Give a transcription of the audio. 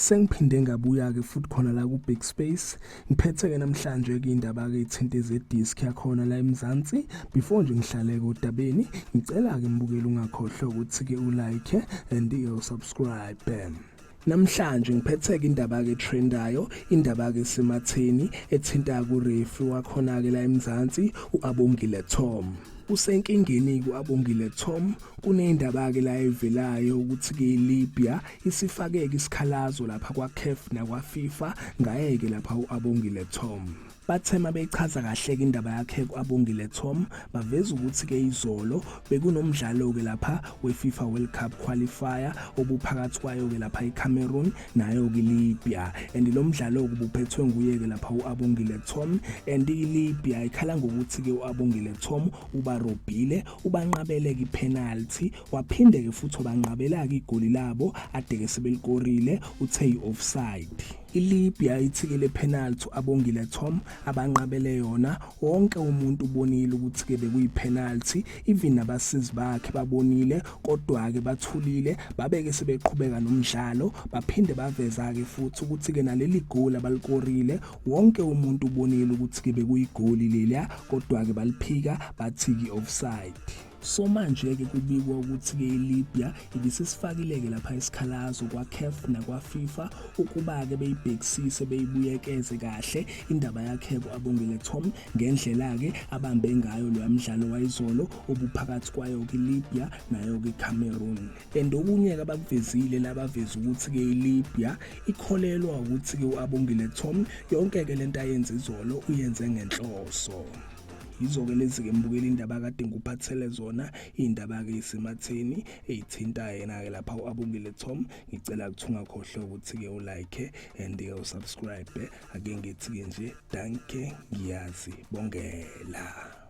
sengiphinde ngabuya-ke futhi khona la ku-big space ngiphethe-ke namhlanje-ke indaba-ke ithinte zedisk yakhona la emzansi before nje ngihlaleke odabeni ngicela-ke mbukeli ungakhohlwa ukuthi-ke ulike and uyosubscribe Namhlanje ngiphetheke indaba ke trendayo indaba ke sematheni ethinta ku referee wakhona ke la eMzansi uAbongile Tom usenkingeni ku-abongile tom kuneyindaba-ke la evelayo ukuthi kuyilibya isifakeke isikhalazo lapha kwacaf nakwafifa ngayeke lapha u-abongile tom Bathe mabeyichaza kahle-ke indaba yakhe kwabongile Tom baveza ukuthi-ke izolo bekunomdlalo-ke lapha we-FIFA World Cup qualifier obuphakathi kwayo-ke lapha iCameroon nayo-ke Libya and lo mdlalo-ke ubuphethwe nguye-ke lapha u-abongile Tom and ilibya ikhala ngokuthi-ke u-abongile Tom ubarobhile ubanqabele-ke ipenalty waphinde-ke futhi wabanqabela-ke igoli labo adeke sebelikorile uthe yi-offside ilibya ithikele penalty abongile tom abanqabele yona wonke umuntu ubonile ukuthi-ke bekuyipenalty even nabasizi bakhe babonile kodwa-ke bathulile babeke sebeqhubeka nomdlalo baphinde baveza-ke futhi ukuthi-ke naleli goli abalikorile wonke umuntu ubonile ukuthi-ke bekuyigoli leliya kodwa-ke baliphika bathi-ke offside So manje-ke kubikwa ukuthi-ke iLibya ibisisifakile-ke lapha isikhalazo kwaCaf nakwaFifa ukuba-ke beyibhekisise beyibuyekeze kahle indaba yakhe ku-Abongile Tom ngendlela-ke abambe ngayo loya mdlalo wayizolo obuphakathi kwayo-ke iLibya nayo-ke iCameroon. And okunye-ke abakuvezile labaveza ukuthi-ke iLibya ikholelwa ukuthi-ke u-Abongile Tom yonke-ke le nto ayenze izolo uyenze ngenhloso. yizo-ke lezi-ke mbukeli indaba kade ngikuphathele zona iy'ndaba-ke isematheni eyithinta yena-ke lapha u-abongile tom ngicela kuthunga khohlwe ukuthi-ke ulike and-ke usubscribe ake ngithi-ke nje danke ngiyazi bongela